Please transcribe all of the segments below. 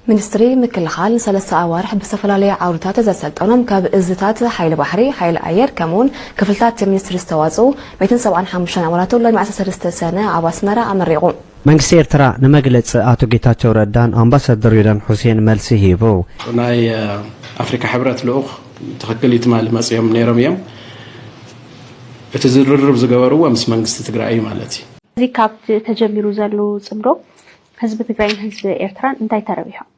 ሚኒስትሪ ምክልኻል ንሰለስተ ኣዋርሕ ብዝተፈላለየ ዓውድታት ዘሰልጠኖም ካብ እዝታት ሓይሊ ባሕሪ፣ ሓይሊ ኣየር ከምኡ'ውን ክፍልታት እቲ ሚኒስትሪ ዝተዋጽኡ ሚእትን ሰብዓን ሓሙሽተን ኣባላቱ ሎሚ ዓሰርተ ሰለስተ ሰነ ኣብ ኣስመራ ኣመሪቑ። መንግስቲ ኤርትራ ንመግለጺ ኣቶ ጌታቸው ረዳን ኣምባሳደር ሬድዋን ሑሴን መልሲ ሂቡ። ናይ ኣፍሪካ ሕብረት ልኡኽ ትኽክል እዩ ትማሊ መፂኦም ነይሮም እዮም እቲ ዝርርብ ዝገበርዎ ምስ መንግስቲ ትግራይ እዩ ማለት እዩ። እዚ ካብቲ ተጀሚሩ ዘሉ ፅምዶ ህዝቢ ትግራይን ህዝቢ ኤርትራን እንታይ ተረቢሖም?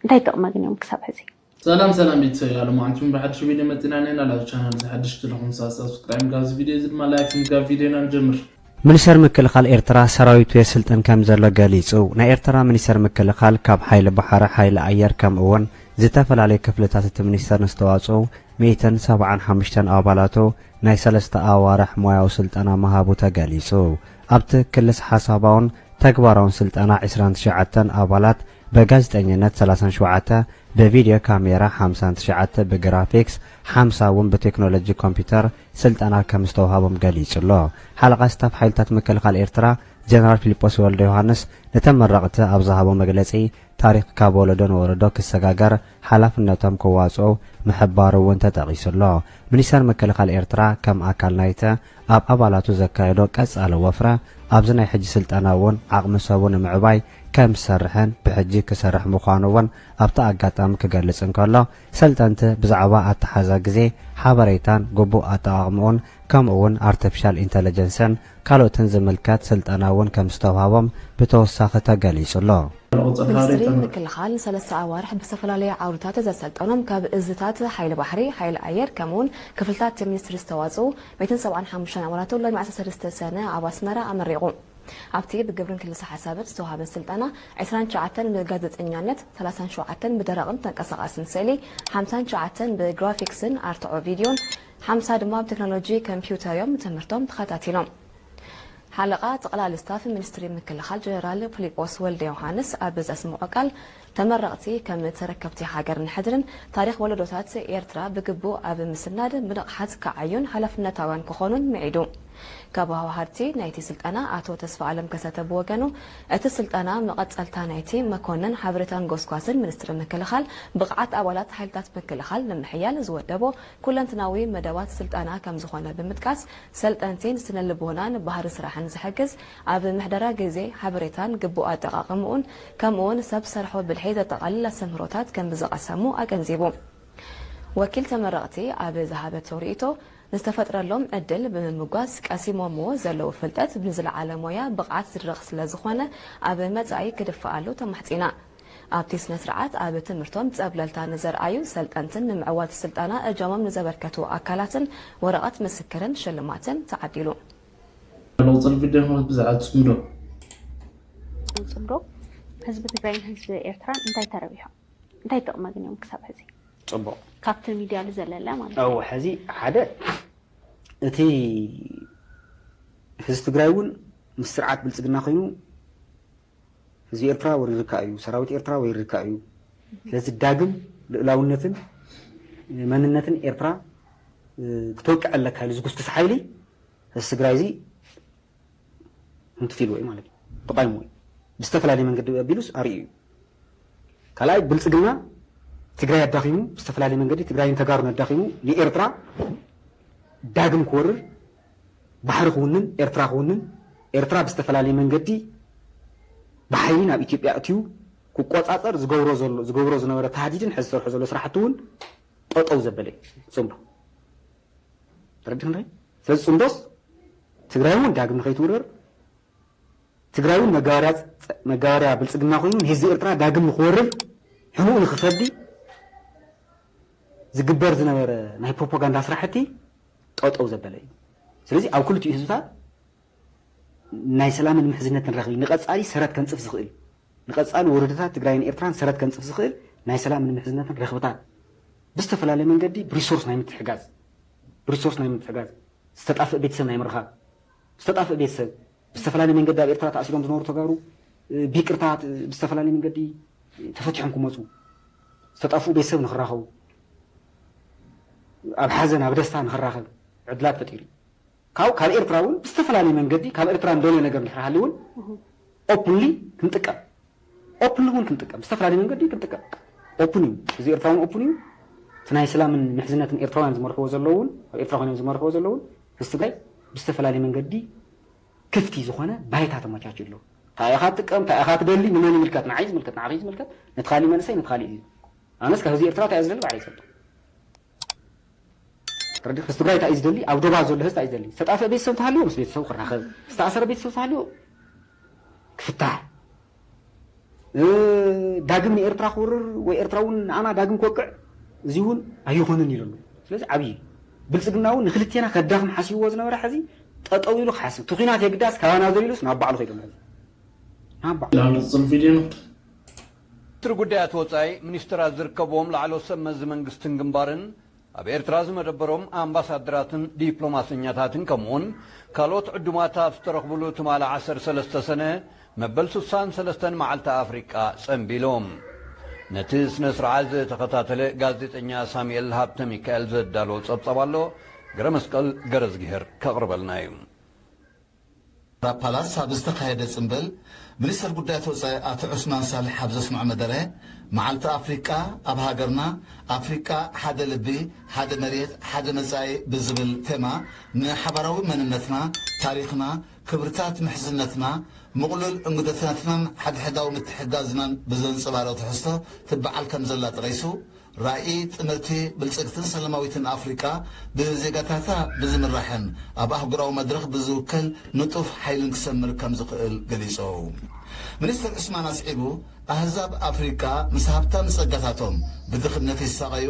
እንታይ ጥቕሚ ኣግንዮም ክሳብ ሕዚ? ሰላም ሰላም ቤተሰብ ያለ ማዓንቱም ብሓድሽ ቪድዮ መፂና ኣለና ላብ ቻናል እዚ ሓድሽ ተለኹም ሳብ ሳብስክራይም ጋብ እዚ ቪድዮ እዚ ድማ ላይክ ምጋብ ቪድዮና ንጀምር። ምኒሰር ምክልኻል ኤርትራ ሰራዊቱ የስልጥን ከምዘሎ ገሊጹ። ናይ ኤርትራ ምኒሰር ምክልኻል ካብ ሓይሊ ባሕሪ፣ ሓይሊ ኣየር ከምኡ'ውን ዝተፈላለዩ ክፍልታት እቲ ምኒስተር ንዝተዋጽኡ ሚእትን ሰብዓን ሓሙሽተን ኣባላቱ ናይ ሰለስተ ኣዋርሕ ሞያዊ ስልጠና ምሃቡ ተገሊጹ። ኣብቲ ክልስ ሓሳባውን ተግባራውን ስልጠና ዕስራን ትሽዓተን ኣባላት በጋዜጠኝነት ሰላሳን ሸውዓተ ብቪድዮ ካሜራ ሓምሳን ትሽዓተ ብግራፊክስ ሓምሳ እውን ብቴክኖሎጂ ኮምፒዩተር ስልጠና ከምዝተውሃቦም ገሊጹ'ሎ። ሓለቓ ስታፍ ሓይልታት ምክልኻል ኤርትራ ጀነራል ፊሊጶስ ወልደዮሃንስ ንተመረቕቲ ኣብ ዝሃቦ መግለጺ ታሪኽ ካብ ወለዶ ንወለዶ ክሰጋገር ሓላፍነቶም ክዋፅኡ ምሕባሩ እውን ተጠቒሱ ኣሎ። ሚኒስቴር ምክልኻል ኤርትራ ከም ኣካል ናይቲ ኣብ ኣባላቱ ዘካየዶ ቀፃሊ ወፍረ ኣብዚ ናይ ሕጂ ስልጠና እውን ዓቕሚ ሰቡ ንምዕባይ ከም ዝሰርሕን ብሕጂ ክሰርሕ ምዃኑ እውን ኣብቲ ኣጋጣሚ ክገልፅ እንከሎ ሰልጠንቲ ብዛዕባ ኣተሓሕዛ ግዜ፣ ሓበሬታን ግቡእ ኣጠቓቕምኡን ከምኡ እውን ኣርተፊሻል ኢንተለጀንስን ካልኦትን ዝምልከት ስልጠና እውን ከምዝተውሃቦም ብተወሳኺ ተገሊፁ ኣሎ። ሚኒስትሪ ምክልኻል ንሰለስተ ኣዋርሕ ብዝተፈላለዩ ዓውድታት ዘሰልጠኖም ካብ እዝታት ሓይሊ ባሕሪ፣ ሓይሊ ኣየር ከምኡ እውን ክፍልታት ሚኒስትሪ ዝተዋፅኡ ሚእትን ሰብዓን ሓሙሽተን ኣባላቱ ሎሚ ዓሰርተ ሰለስተ ሰነ ኣብ ኣስመራ ኣመሪቑ። ኣብቲ ብግብርን ክልሰ ሓሳብን ዝተውሃበ ስልጠና ዕስራን ትሽዓተን ብጋዜጠኛነት፣ ሰላሳን ሸውዓተን ብደረቕን ተንቀሳቓስን ስእሊ፣ ሓምሳን ትሽዓተን ብግራፊክስን ኣርትዖ ቪድዮን፣ ሓምሳ ድማ ብ ተክኖሎጂ ከምፒውተር እዮም ትምህርቶም ተኸታቲሎም። ሓለቓ ጠቕላሊ ስታፍ ሚኒስትሪ ምክልኻል ጀነራል ፍሊጶስ ወልደዮውሃንስ ኣብ ዘስመዖ ቃል፣ ተመረቕቲ ከም ተረከብቲ ሃገር ንሕድርን ታሪኽ ወለዶታት ኤርትራ ብግቡእ ኣብ ምስናድ ብንቕሓት ክዓዩን ሓላፍነታውያን ክኾኑን ምዒዱ። ካብ ኣወሃሃድቲ ናይቲ ስልጠና ኣቶ ተስፋኣለም ከሰተ ብወገኑ፣ እቲ ስልጠና መቐጸልታ ናይቲ መኮነን ሓበሬታን ጎስጓስን ሚኒስትሪ ምክልኻል ብቕዓት ኣባላት ሓይልታት ምክልኻል ንምሕያል ዝወደቦ ኩለንትናዊ መደባት ስልጠና ከምዝኾነ ብምጥቃስ፣ ሰልጠንቲ ንስነልቦናን ባህሪ ስራሕን ዝሕግዝ ኣብ ምሕደራ ግዜ፣ ሓበሬታን ግቡእ ኣጠቓቕምኡን ከምኡ'ውን ሰብ ሰርሖ ብልሒ ዘጠቓልል ኣስተምህሮታት ከምዝቐሰሙ ኣገንዚቡ። ወኪል ተመረቕቲ ኣብ ዝሃበቶ ርኢቶ፣ ንዝተፈጥረሎም ዕድል ብምምጓስ ቀሲሞምዎ ዘለዉ ፍልጠት ንዝለዓለ ሞያ ብቕዓት ዝድርኽ ስለዝኾነ ኣብ መጻኢ ክድፋኣሉ ተማሕጺና። ኣብቲ ስነስርዓት ኣብ ትምህርቶም ፀብለልታ ንዘርኣዩ ሰልጠንትን ንምዕዋት ስልጠና እጃሞም ንዘበርከቱ ኣካላትን ወረቐት ምስክርን ሽልማትን ተዓዲሉ። ለውጥን ቪድዮን ብዛዕባ ፅምዶ። ኣብ ፅምዶ ህዝቢ ትግራይን ህዝቢ ኤርትራን እንታይ ተረቢሑ? እንታይ ጥቕሚ ኣግንዮም ክሳብ ሕዚ? ፅቡቕ። ካብቲ ሚድያ ልዘለለ ማለት እዩ። እው ሐዚ ሓደ እቲ ህዝቢ ትግራይ እውን ምስ ስርዓት ብልፅግና ኮይኑ ህዝቢ ኤርትራ ወይ ርካእ እዩ፣ ሰራዊት ኤርትራ ወይ ርካእ እዩ። ስለዚ ዳግም ልኡላውነትን መንነትን ኤርትራ ክተውቅዕ ኣለካ ኢሉ ዝጉስጉስ ሓይሊ እዚ ትግራይ እዚ ህንቱት ኢልዎ እዩ ማለት እዩ፣ ተቋይምዎ እዩ። ብዝተፈላለየ መንገዲ ኣቢሉስ ኣርእዩ እዩ። ካልኣይ ብልጽግና ትግራይ ኣዳኺሙ ብዝተፈላለየ መንገዲ ትግራይን ተጋሩን ኣዳኺሙ ንኤርትራ ዳግም ክወርር ባሕሪ ክውንን ኤርትራ ክውንን ኤርትራ ብዝተፈላለየ መንገዲ ብሓይሊ ናብ ኢትዮጵያ ኣእትዩ ክቆጻጸር ዝገብሮ ዘሎ ዝገብሮ ዝነበረ ታህዲድን ሕዚ ዝሰርሖ ዘሎ ስራሕቲ እውን ጠጠው ዘበለ እዩ ጽምዶ ተረዲኽናይ ስለዚ ጽምዶስ ትግራይ እውን ዳግም ንኸይትውረር ትግራይ እውን መጋበርያ መጋበርያ ብልጽግና ኮይኑ ንህዝቢ ኤርትራ ዳግም ንክወርር ሕኑኡ ንክፈዲ ዝግበር ዝነበረ ናይ ፕሮፖጋንዳ ስራሕቲ ጠጠው ዘበለ እዩ። ስለዚ ኣብ ክልቲኡ ህዝብታት ናይ ሰላምን ምሕዝነትን ረኽቢ ንቐፃሊ ሰረት ከንፅፍ ዝኽእል ንቐፃሊ ወለዶታት ትግራይን ኤርትራን ሰረት ከንፅፍ ዝኽእል ናይ ሰላምን ምሕዝነትን ረኽብታት ብዝተፈላለየ መንገዲ ብሪሶርስ ናይ ምትሕጋዝ ብሪሶርስ ናይ ምትሕጋዝ ዝተጣፍእ ቤተሰብ ናይ ምርኻብ ዝተጣፍእ ቤተሰብ ብዝተፈላለየ መንገዲ ኣብ ኤርትራ ተኣሲሮም ዝነበሩ ተጋሩ ብይቅርታ ብዝተፈላለየ መንገዲ ተፈቲሖም ክመፁ፣ ዝተጠፍኡ ቤተሰብ ንክራኸቡ፣ ኣብ ሓዘን ኣብ ደስታ ንክራኸብ ዕድላት ፈጢሩ እዩ። ካብኡ ካብ ኤርትራ እውን ብዝተፈላለየ መንገዲ ካብ ኤርትራ እንደልዮ ነገር እንድሕር ሃልዩ እውን ኦፕንሊ ክንጥቀም ኦፕን እውን ክንጥቀም ብዝተፈላለየ መንገዲ ክንጥቀም ኦፕን እዩ እዚ ኤርትራ እውን ኦፕን እዩ እቲ ናይ ስላምን ምሕዝነትን ኤርትራውያን ዝመርሕዎ ዘለዉ እውን ኣብ ኤርትራ ኮይኖም ዝመርሕዎ ዘለዉ እውን ምስ ትግራይ ብዝተፈላለየ መንገዲ ክፍቲ ዝኾነ ባይታ ተመቻችዩ ኣሎ እንታይ ኢኻ ትጥቀም እንታይ ኢኻ ትደሊ ንመን ይምልከት ንዓይ ዝምልከት ንዓኺ ዝምልከት ነቲ ካሊእ መንእሰይ ነቲ ካሊእ ኣነስ ካብ ህዝቢ ኤርትራ እንታይ እየ ዝደሊ ባዕለይ ይፈልጦ ረድኤት ምስ ትግራይ እንታይ እዩ ዝደሊ? ኣብ ዶባት ዘሎ ህዝቢ እንታይ እዩ ዝደሊ? ዝተጣፍአ ቤተሰብ እንተሃልዩ ምስ ቤተሰቡ ክራኸብ፣ ዝተኣሰረ ቤተሰብ እንተሃልዩ ክፍታሕ፣ ዳግም ንኤርትራ ክወርር ወይ ኤርትራ እውን ንኣና ዳግም ክወቅዕ እዚ እውን ኣይኾንን ኢሉ ኣሎ። ስለዚ ዓብዪ እዩ። ብልፅግና እውን ንክልቴና ከዳኽም ሓሲብዎ ዝነበረ ሕዚ ጠጠው ኢሉ ክሓስብ እቲ ኲናት የግዳስ ካባና ዘሊሉስ ናብ ባዕሉ ከይዱ ኣሎ ሕዚ ናብ ባዕሉ። Download the video note. ሚኒስትሪ ጉዳያት ወፃኢ፣ ሚኒስትራት ዝርከብዎም ላዕለዎት ሰብ መዚ መንግስትን ግንባርን፣ ኣብ ኤርትራ ዝመደበሮም ኣምባሳደራትን ዲፕሎማሰኛታትን ከምኡ'ውን ካልኦት ዕዱማት ኣብ ዝተረኽብሉ ትማሊ ዓሰርተ ሰለስተ ሰነ መበል ስሳን ሰለስተን መዓልቲ ኣፍሪቃ ጸንቢሎም። ነቲ ስነ ስርዓት ዝተኸታተለ ጋዜጠኛ ሳሙኤል ሃብተሚካኤል ዘዳለዎ ጸብጻብ ኣሎ፣ ገረመስቀል ገረዝግሄር ከቕርበልና እዩ። ራብ ፓላስ ኣብ ዝተኻየደ ጽምብል፣ ሚኒስተር ጉዳያት ወጻኢ ኣቶ ዑስማን ሳልሕ ኣብ ዘስምዖ መደረ፣ መዓልቲ ኣፍሪቃ ኣብ ሃገርና፣ ኣፍሪቃ ሓደ ልቢ፣ ሓደ መሬት፣ ሓደ መጻኢ ብዝብል ቴማ ንሓባራዊ መንነትና፣ ታሪኽና፣ ክብርታት ምሕዝነትና፣ ምቕሉል እንግዶትነትናን ሓድሕዳዊ ምትሕግጋዝናን ብዘንጸባርቕ ትሕዝቶ ትበዓል ከምዘላ ጠቒሱ፣ ራኢ ጥምርቲ፣ ብልጽግትን ሰላማዊትን ኣፍሪቃ ብዜጋታታ ብዝምራሕን ኣብ ኣህጉራዊ መድረኽ ብዝውከል ንጡፍ ሓይልን ክሰምር ከምዝኽእል ገሊጾም። ሚኒስተር ዑስማን ኣስዒቡ፣ ኣህዛብ ኣፍሪቃ ምስ ሃብታም ጸጋታቶም ብድኽነት ይሳቐዩ፣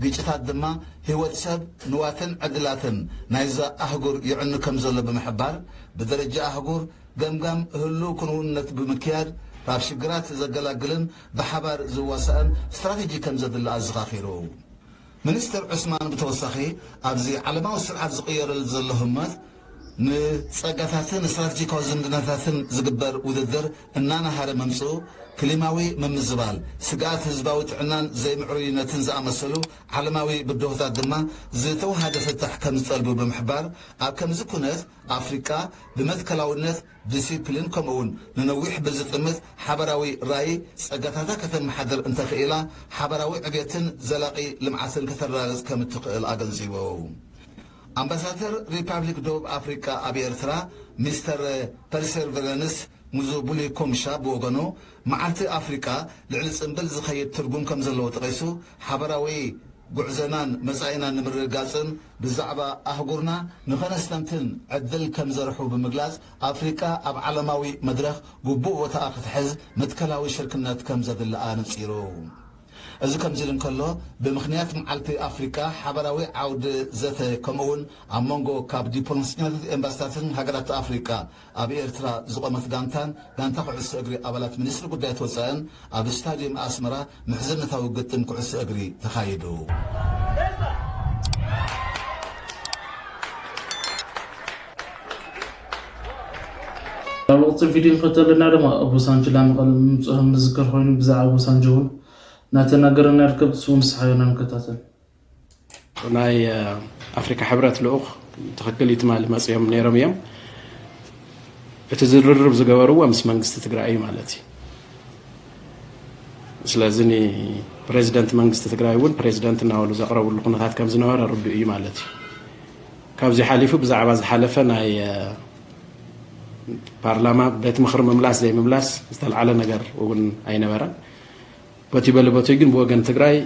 ግጭታት ድማ ህይወት ሰብ፣ ንዋትን ዕድላትን ናይዛ ኣህጉር የዕኑ ከምዘሎ ብምሕባር፣ ብደረጃ ኣህጉር ገምጋም ህሉው ክንውነት ብምክያድ ካብ ሽግራት ዘገላግልን ብሓባር ዝዋሳእን ስትራቴጂ ከምዘድሊ ኣዘኻኺሩ። ሚኒስተር ዑስማን ብተወሳኺ ኣብዚ ዓለማዊ ስርዓት ዝቕየረሉ ዘሎ ህሞት ንጸጋታትን ስትራቴጂካዊ ዝምድናታትን ዝግበር ውድድር እናነሃረ ምምጽኡ ክሊማዊ ምምዝባል፣ ስግኣት ህዝባዊ ጥዕናን ዘይምዕሩይነትን ዝኣመሰሉ ዓለማዊ ብድሆታት ድማ ዝተወሃደ ፍታሕ ከምዝጠልቡ ብምሕባር ኣብ ከምዚ ኩነት ኣፍሪቃ ብመትከላውነት ዲሲፕሊን ከምኡ'ውን ንነዊሕ ብዝጥምት ሓበራዊ ራኢ ጸጋታታ ከተመሓድር እንተኽኢላ ሓበራዊ ዕብየትን ዘላቒ ልምዓትን ከተረጋግጽ ከም እትኽእል ኣገንዚቡ። ኣምባሳተር ሪፓብሊክ ደቡብ ኣፍሪቃ ኣብ ኤርትራ ሚስተር ፐርሴርቨረንስ ሙዙቡሊ ኮምሻ ብወገኑ መዓልቲ ኣፍሪቃ ልዕሊ ጽምብል ዝኸይድ ትርጉም ከም ዘለዎ ጠቒሱ ሓበራዊ ጉዕዘናን መጻኢናን ንምርግጋጽን ብዛዕባ ኣህጉርና ንኸነስተንትን ዕድል ከም ዘርሑ ብምግላጽ፣ ኣፍሪቃ ኣብ ዓለማዊ መድረኽ ግቡእ ቦታኣ ክትሕዝ መትከላዊ ሽርክነት ከም ዘድልኣ ኣነጺሩ። እዚ ከምዚ ኢሉ እንከሎ፣ ብምኽንያት መዓልቲ ኣፍሪቃ ሓባራዊ ዓውደ ዘተ ከምኡ'ውን ኣብ መንጎ ካብ ዲፕሎማሰኛታትን ኤምባሲታትን ሃገራት ኣፍሪቃ ኣብ ኤርትራ ዝቖመት ጋንታን ጋንታ ኩዕሶ እግሪ ኣባላት ሚኒስትሪ ጉዳያት ወጻእን ኣብ ስታድየም ኣስመራ ምሕዝነታዊ ግጥም ኩዕሶ እግሪ ተኻይዱ። ኣብ ወቕቲ ቪድዮ እንከተለና ድማ ኣብ ወሳንጅላ መቐለ ምምጽኦም ንዝከር ኮይኑ ብዛዕባ ወሳንጆ ውን እናተናገረና ንርከብ ንሱ ውን ንስሓዮና ንከታተል። ናይ ኣፍሪካ ሕብረት ልኡኽ ትኽክል እዩ ትማሊ መፅኦም ነይሮም እዮም እቲ ዝርርብ ዝገበርዎ ምስ መንግስቲ ትግራይ እዩ ማለት እዩ ስለዚ ፕሬዚደንት መንግስቲ ትግራይ እውን ፕሬዚደንት እናበሉ ዘቕረብሉ ኩነታት ከም ዝነበረ ርዱእ እዩ ማለት እዩ ካብዚ ሓሊፉ ብዛዕባ ዝሓለፈ ናይ ፓርላማ ቤት ምኽሪ ምምላስ ዘይምምላስ ዝተልዓለ ነገር እውን ኣይነበረን በቲ በሊ በቱይ ግን ብወገን ትግራይ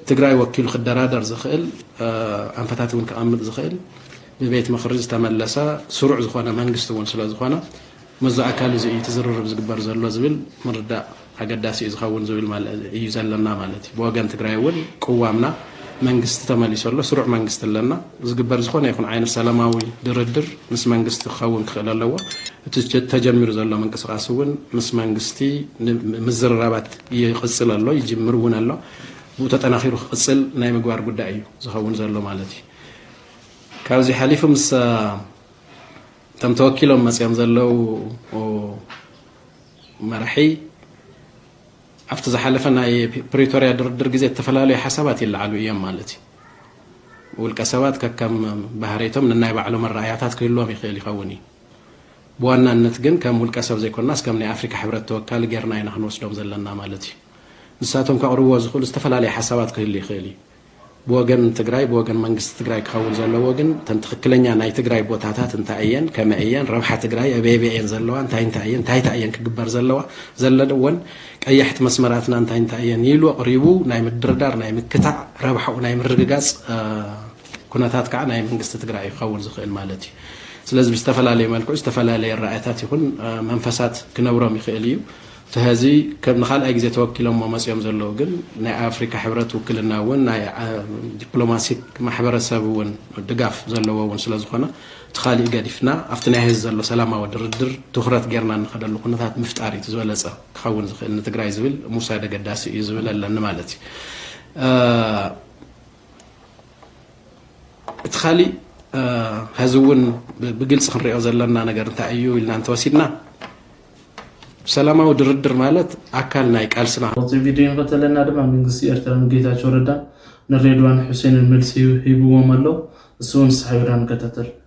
ትግራይ ወኪሉ ክደራደር ዝኽእል ኣንፈታት እውን ከቐምጥ ዝኽእል ብቤት ምኽሪ ዝተመለሰ ስሩዕ ዝኾነ መንግስቲ እውን ስለ ዝኾነ መዚ ኣካል እዚ እዩ እቲ ዝርርብ ዝግበር ዘሎ ዝብል ምርዳእ ኣገዳሲ እዩ ዝኸውን ዝብል እዩ ዘለና ማለት እዩ ብወገን ትግራይ እውን ቅዋምና መንግስቲ ተመሊሱ ኣሎ ስሩዕ መንግስቲ ኣለና ዝግበር ዝኾነ ይኹን ዓይነት ሰላማዊ ድርድር ምስ መንግስቲ ክኸውን ክኽእል ኣለዎ እቲ ተጀሚሩ ዘሎ ምንቅስቃስ እውን ምስ መንግስቲ ምዝርራባት ይቕጽል ኣሎ፣ ይጅምር እውን ኣሎ። ብኡ ተጠናኺሩ ክቕጽል ናይ ምግባር ጉዳይ እዩ ዝኸውን ዘሎ ማለት እዩ። ካብዚ ሓሊፉ ምስ እቶም ተወኪሎም መጺኦም ዘለዉ መራሒ ኣብቲ ዝሓለፈ ናይ ፕሪቶርያ ድርድር ግዜ እተፈላለዩ ሓሳባት ይለዓሉ እዮም ማለት እዩ ውልቀ ሰባት ከከም ባህርይቶም ንናይ ባዕሎም ኣረኣያታት ክህልዎም ይኽእል ይኸውን እዩ ብዋናነት ግን ከም ውልቀ ሰብ ዘይኮናስ ከም ናይ ኣፍሪካ ሕብረት ተወካሊ ገይርና ኢና ክንወስዶም ዘለና ማለት እዩ። ንሳቶም ከቕርብዎ ዝኽእሉ ዝተፈላለየ ሓሳባት ክህሉ ይኽእል እዩ። ብወገን ትግራይ ብወገን መንግስቲ ትግራይ ክኸውን ዘለዎ ግን እተን ትኽክለኛ ናይ ትግራይ ቦታታት እንታይ እየን፣ ከመይ እየን፣ ረብሓ ትግራይ ኣበየበይ እየን ዘለዋ፣ እንታይ እንታይ እየን፣ እንታይ እንታይ እየን ክግበር ዘለዋ፣ ዘለወን ቀያሕቲ መስመራትና እንታይ እንታይ እየን ኢሉ ኣቕሪቡ ናይ ምድርዳር፣ ናይ ምክታዕ፣ ረብሓኡ ናይ ምርግጋፅ ኩነታት ከዓ ናይ መንግስቲ ትግራይ እዩ ክኸውን ዝኽእል ማለት እዩ። ስለዚ ብዝተፈላለየ መልክዑ ዝተፈላለየ ኣረኣእያታት ይኹን መንፈሳት ክነብሮም ይኽእል እዩ። እቲ ሐዚ ከም ንካልኣይ ግዜ ተወኪሎሞ መፂኦም ዘለዉ ግን ናይ ኣፍሪካ ሕብረት ውክልና እውን ናይ ዲፕሎማሲክ ማሕበረሰብ እውን ድጋፍ ዘለዎ እውን ስለዝኾነ እቲ ካሊእ ገዲፍና ኣብቲ ናይ ሐዚ ዘሎ ሰላማዊ ድርድር ትኹረት ጌርና እንኸደሉ ኩነታት ምፍጣር እዩ እቲ ዝበለፀ ክኸውን ዝኽእል ንትግራይ ዝብል ምውሳድ ኣገዳሲ እዩ ዝብል ኣለኒ ማለት እዩ። እቲ ካሊእ ሀዚ እውን ብግልፂ ክንሪኦ ዘለና ነገር እንታይ እዩ ኢልና እንተወሲድና ሰላማዊ ድርድር ማለት ኣካል ናይ ቃልስና ካብዚ ቪድዮ እንከተለና ድማ መንግስቲ ኤርትራ ንጌታቸው ረዳ ንሬድዋን ሑሴንን መልሲ ሂብዎም ኣሎ እሱ እውን ሳሕቢርና ንከታተል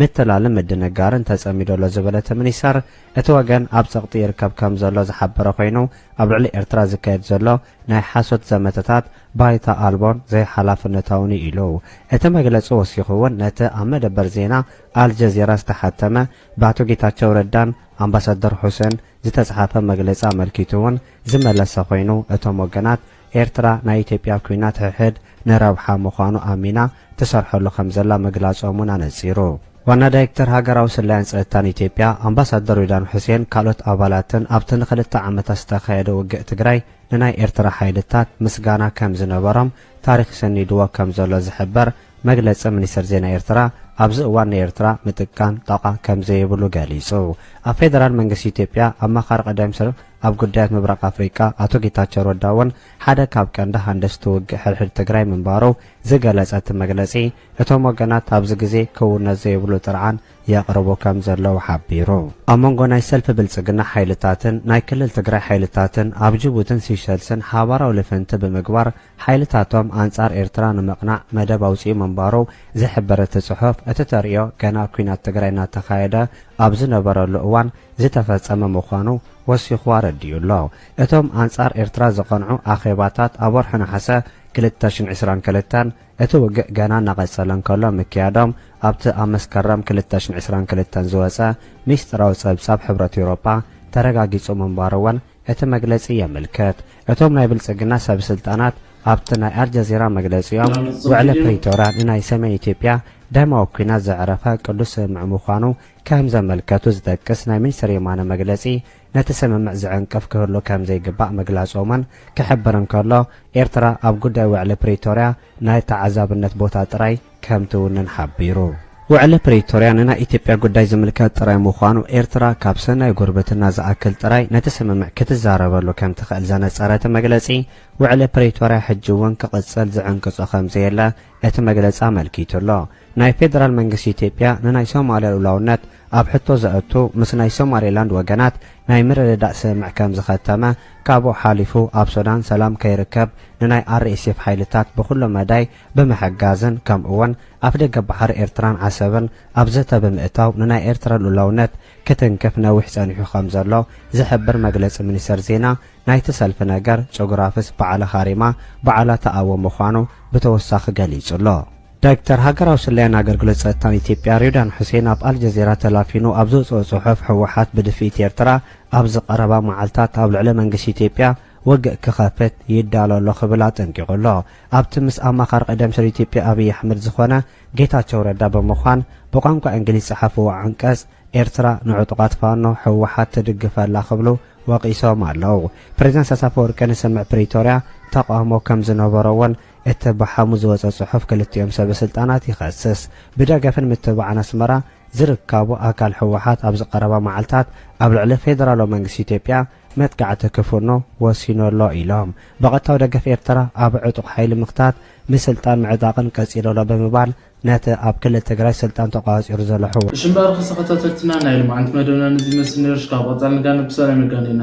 ምትላልን ምድንጋርን ተጸሚዱ ኣሎ ዝበለ እቲ ሚኒስተር፣ እቲ ወገን ኣብ ጸቕጢ ይርከብ ከም ዘሎ ዝሓበረ ኮይኑ፣ ኣብ ልዕሊ ኤርትራ ዝካየድ ዘሎ ናይ ሓሶት ዘመተታት ባይታ ኣልቦን ዘይሓላፍነታውን'ዩ ኢሉ። እቲ መግለጺ ወሲኹ'ውን ነቲ ኣብ መደበር ዜና ኣልጀዚራ ዝተሓተመ ብኣቶ ጌታቸው ረዳን ኣምባሳደር ሑሴን ዝተጽሓፈ መግለጺ ኣመልኪቱ'ውን ዝመለሰ ኮይኑ፣ እቶም ወገናት ኤርትራ ናይ ኢትዮጵያ ኲናት ሕሕድ ንረብሓ ምዃኑ ኣሚና ትሰርሐሉ ከምዘላ ምግላጾም ውን ኣነጺሩ። ዋና ዳይክተር ሃገራዊ ስለያን ጸጥታን ኢትዮጵያ ኣምባሳደር ሬድዋን ሑሴን ካልኦት ኣባላትን ኣብቲ ንክልተ ዓመታት ዝተኻየደ ውግእ ትግራይ ንናይ ኤርትራ ሓይልታት ምስጋና ከምዝነበሮም ታሪኽ ሰኒድዎ ከምዘሎ ዝሕበር መግለጺ ሚኒስተር ዜና ኤርትራ ኣብዚ እዋን ንኤርትራ ምጥቃን ጣቋ ከምዘይብሉ ገሊጹ። ኣብ ፌደራል መንግስቲ ኢትዮጵያ ኣማኻሪ ቀዳይ ሚኒስተር ኣብ ጉዳያት ምብራቕ ኣፍሪቃ ኣቶ ጌታቸው ረዳ እውን ሓደ ካብ ቀንዲ ሃንደስቲ ውግእ ሕድሕድ ትግራይ ምንባሩ ዝገለፀ እቲ መግለፂ፣ እቶም ወገናት ኣብዚ ግዜ ክውነት ዘይብሉ ጥርዓን የቕርቡ ከም ዘለዉ ሓቢሩ። ኣብ መንጎ ናይ ሰልፊ ብልፅግና ሓይልታትን ናይ ክልል ትግራይ ሓይልታትን ኣብ ጅቡትን ሲሸልስን ሓባራዊ ልፍንቲ ብምግባር ሓይልታቶም ኣንጻር ኤርትራ ንምቕናዕ መደብ ኣውጺኡ ምንባሩ ዝሕብር እቲ ጽሑፍ፣ እቲ ተርእዮ ገና ኲናት ትግራይ እናተኻየደ ኣብ ዝነበረሉ እዋን ዝተፈጸመ ምዃኑ ወሲኹ ኣረዲኡ ኣሎ። እቶም ኣንጻር ኤርትራ ዝቐንዑ ኣኼባታት ኣብ ወርሒ ነሓሰ ክልተ ሽሕን ዕስራን ክልተን፣ እቲ ውግእ ገና እናቐጸለ እንከሎ ምክያዶም ኣብቲ ኣብ መስከረም ክልተ ሽሕን ዕስራን ክልተን ዝወጸ ምስጢራዊ ጸብጻብ ሕብረት ኤውሮጳ ተረጋጊጹ ምንባሩ'ውን እቲ መግለጺ የምልክት። እቶም ናይ ብልጽግና ሰብስልጣናት ኣብቲ ናይ ኣልጀዚራ መግለጺኦም፣ ውዕሊ ፕሪቶርያ ንናይ ሰሜን ኢትዮጵያ ደማዊ ኲናት ዘዕረፈ ቅዱስ ስምምዕ ምዃኑ ከም ዘመልከቱ ዝጠቅስ ናይ ሚኒስተር የማነ መግለጺ ነቲ ስምምዕ ዝዕንቅፍ ክህሉ ከም ዘይግባእ ምግላጾምን ክሕብር እንከሎ፣ ኤርትራ ኣብ ጉዳይ ውዕሊ ፕሪቶርያ ናይ ተዓዛብነት ቦታ ጥራይ ከም ትውንን ሓቢሩ። ውዕሊ ፕሪቶርያ ንናይ ኢትዮጵያ ጉዳይ ዝምልከት ጥራይ ምዃኑ፣ ኤርትራ ካብ ሰናይ ጉርብትና ዝኣክል ጥራይ ነቲ ስምምዕ ክትዛረበሉ ከም ትኽእል ዘነጸረ እቲ መግለጺ፣ ውዕሊ ፕሪቶርያ ሕጂ እውን ክቕጽል ዝዕንቅጾ ከም ዘየለ እቲ መግለጺ ኣመልኪቱ ኣሎ። ናይ ፌደራል መንግስቲ ኢትዮጵያ ንናይ ሶማልያ ልኡላውነት ኣብ ሕቶ ዘእቱ ምስ ናይ ሶማሌላንድ ወገናት ናይ ምርድዳእ ስምምዕ ከም ዝኸተመ፣ ካብኡ ሓሊፉ ኣብ ሱዳን ሰላም ከይርከብ ንናይ RSF ሓይልታት ብኹሉ መዳይ ብምሕጋዝን ከምኡ'ውን ኣፍደገ ባሕሪ ኤርትራን ዓሰብን ኣብ ዘተ ብምእታው ንናይ ኤርትራ ልኡላውነት ክትንክፍ ነዊሕ ጸኒሑ ከም ዘሎ ዝሕብር መግለጺ ሚኒስተር ዜና ናይቲ ሰልፊ ነገር ጨጉራፍስ በዓላ ሃሪማ በዓላ ትኣዊ ምዃኑ ብተወሳኺ ገሊጹ ኣሎ። ዳይክተር ሃገራዊ ስለያን ኣገልግሎት ጸጥታን ኢትዮጵያ ሬድዋን ሑሴን ኣብ ኣልጀዚራ ተላፊኑ ኣብ ዘውጽኦ ጽሑፍ ህወሓት ብድፍኢት ኤርትራ ኣብዚ ቀረባ መዓልታት ኣብ ልዕሊ መንግስቲ ኢትዮጵያ ወግእ ክኸፍት ይዳሎ ኣሎ ክብል ኣጠንቂቑ ኣሎ። ኣብቲ ምስ ኣማኻሪ ቀደም ሰር ኢትዮጵያ ኣብይ ኣሕመድ ዝኾነ ጌታቸው ረዳ ብምዃን ብቋንቋ እንግሊዝ ዝጸሓፍዎ ዓንቀጽ ኤርትራ ንዕጡቓት ፋኖ፣ ህወሓት፣ ትድግፍ ኣላ ክብሉ ወቒሶም ኣለው። ፕሬዝዳንት ኢሳያስ ኣፈወርቂ ንስምምዕ ፕሪቶርያ ተቓውሞ ከም ዝነበሮ'ውን እቲ ብሓሙስ ዝወጸ ጽሑፍ ክልቲኦም ሰበ ስልጣናት ይኸስስ። ብደገፍን ምትብባዕን ኣስመራ ዝርካቡ ኣካል ህወሓት ኣብዚ ቀረባ መዓልታት ኣብ ልዕሊ ፌደራላዊ መንግስቲ ኢትዮጵያ መጥቃዕቲ ክፍኖ ወሲኑ ኣሎ ኢሎም። ብቐጥታዊ ደገፍ ኤርትራ ኣብ ዕጡቕ ሓይሊ ምኽታት፣ ንስልጣን ምዕጣቕን ቀጺሉ ኣሎ ብምባል ነቲ ኣብ ክልል ትግራይ ስልጣን ተቖጻጺሩ ዘሎ ህወ። እሺ እምበኣር ኽሰ ከታተልትና ናይ ልማዓንቲ መደብና ነዚ ይመስል ነይሩ እሺ ካብ ቐፃሊ ንጋነ ብሰላም የጋንየና።